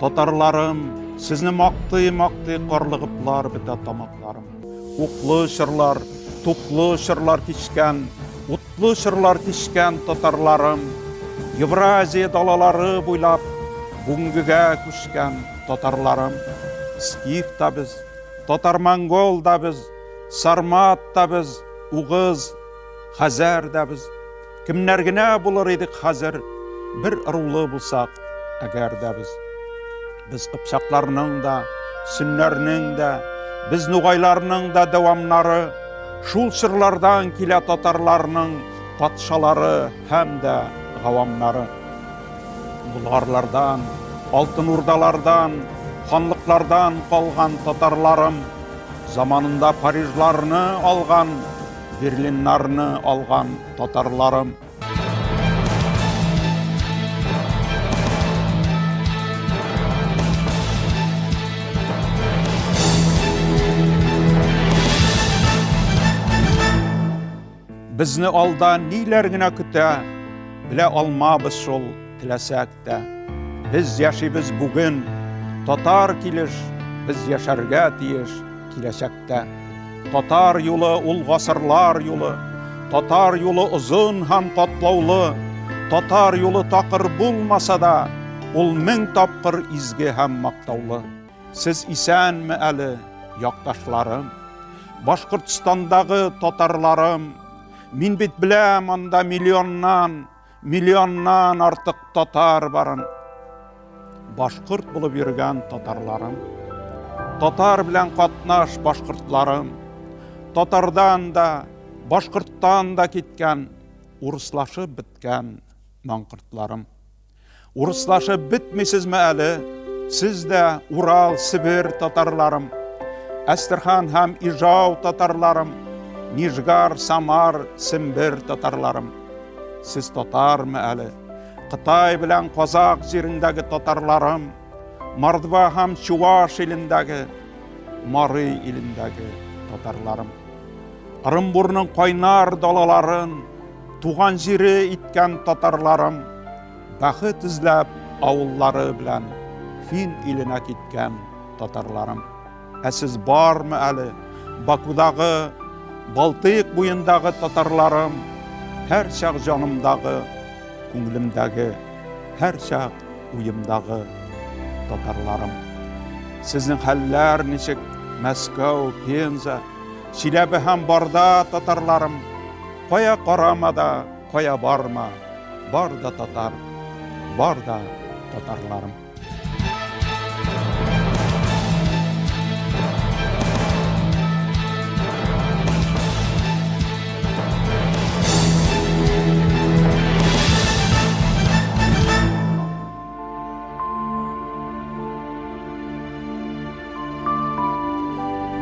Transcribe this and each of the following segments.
Татарларым, сезне мактый, мактый карлыгыплар бетә тамакларым. Уклы чырлар, туклы чырлар тишкән, утлы чырлар тишкән татарларым. Евразия далалары буйлап бүгенгегә күчкән татарларым. Скиф та без, татар-монгол да без, сармат та без, угыз, хәзәр дә без. Кемнәр генә булыр идек хәзер, бер ырулы булсак, әгәр дә без. Без кыпчакларның да, сөннәрнең дә, без нугайларның да дәвамнары, шул чырлардан килә татарларның патшалары һәм дә гавамнары. Болгарлардан, алтын урдалардан, ханлыклардан калган татарларым, заманында парижларны алган Берлиннарны алган татарларым. Безне алда ниләр генә көтә, Белә алмабыз шул, теләсәк. Әлбәттә, без яшибез бүген, татар килеш, без яшәргә тиеш киләчәктә. Татар юлы ул гасырлар юлы, татар юлы озын һәм катлаулы, татар юлы такыр булмаса да, ул мең тапкыр изге һәм мактаулы. Сез исәнме әле, якташларым? Башкортстандагы татарларым, мин бит беләм, анда миллионнан Миллионнан артык татар барын, башкорт булып йөргән татарларым, татар белән катнаш башкортларым, татардан да, башкорттан да киткән, урыслашып беткән маңкортларым. Урыслашып бетмисезме әле? Сез дә Урал, Себер татарларым, Әстерхан һәм Ижау татарларым, Нижгар, Самар, Сембер татарларым. Сез татармы әле? Кытай белән Казак җирендәге татарларым, Мордва һәм Чуваш илендәге, Мары илендәге татарларым. Ырымбурның кайнар далаларын, Туган җире иткән татарларым бәхет эзләп авыллары белән фин иленә киткән татарларым. Ә сез бармы әле Бакудагы, Балтыйк буендагы татарларым, һәр чак җанымдагы, күңелемдәге, һәр чак уемдагы татарларым. Сезнең хәлләр ничек? Мәскәү, Пенза, Чиләбе һәм Барда татарларым. Кая карама да, кая барма, бар да татар, бар да татарларым.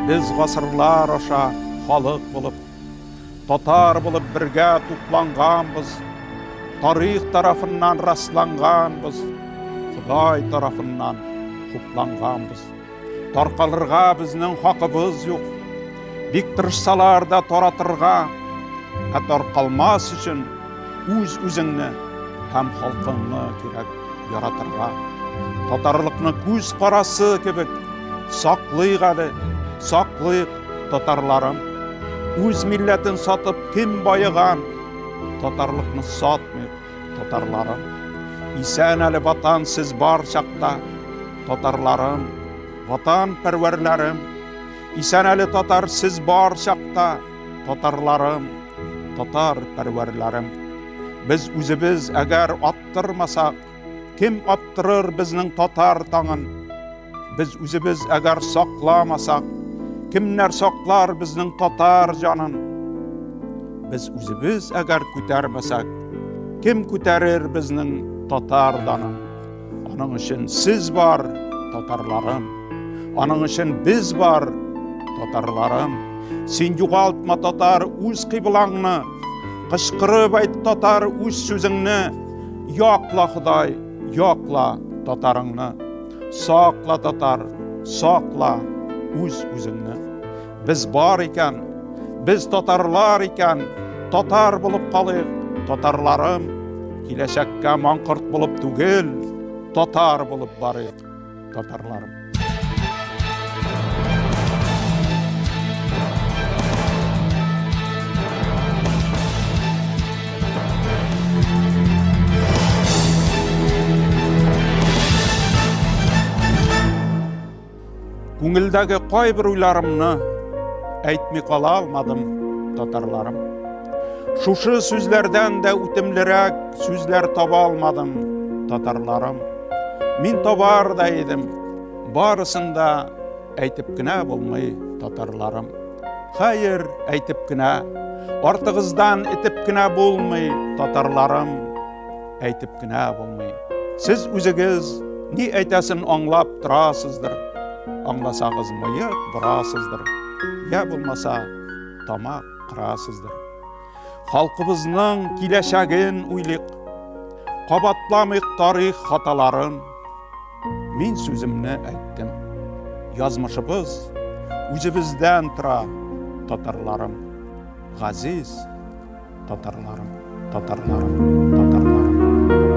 Без гасырлар аша халык булып Татар булып бергә тупланганбыз, тарих тарафыннан расланганбыз, Ходай тарафыннан хупланганбыз. Таркалырга безнең хакыбыз юк. Бик тырышсалар да таратырга, ә таркалмас өчен үз үзеңне һәм халкыңны кирәк яратырга. Татарлыкны күз карасы кебек саклыйк әле, саклыйк. Татарларым, үз милләтен сатып кем байыган? Татарлыкны сатмый, татарларым. Исән әле ватан сез бар чакта, татарларым, ватан пәрвәрләрем. Исән әле татар сез бар чакта, татарларым, татар пәрвәрләрем. Без үзебез әгәр аттырмасак, Кем аттырыр безнең татар таңын? Без үзебез әгәр сакламасак, кемнәр саклар безнең татар җанын? Без үзебез әгәр күтәрмәсәк, кем күтәрер безнең татар данын? Аның өчен сез бар, татарларым. Аның өчен без бар, татарларым син югалтма татар үз кыйблаңны кычкырып айт татар үз сүзеңне Якла Ходай, якла татарыңны. Сакла татар, сакла үз үзеңне. Без бар икән, без татарлар икән, татар булып калыйк, татарларым. Киләчәккә маңкорт булып түгел, татар булып барыйк. татарларым. Күңелдәге кайбер уйларымны әйтми кала алмадым, татарларым. Шушы сүзләрдән дә үтемлерәк сүзләр таба алмадым, татарларым. Мин табар да идем, барысын да әйтеп кенә булмый татарларым. Хәер, әйтеп кенә, артыгыздан итеп кенә булмый татарларым, әйтеп кенә булмый. Сез үзегез ни әйтәсен аңлап торасыздыр. Аңласагыз мыек борасыздыр. Я булмаса тамак кырасыздыр. Халкыбызның киләчәген уйлыйк, кабатламыйк тарих хаталарын. Мин сүземне әйттем. Язмышыбыз үзебездән тора, татарларым. Газиз татарларым, татарларым, татарларым.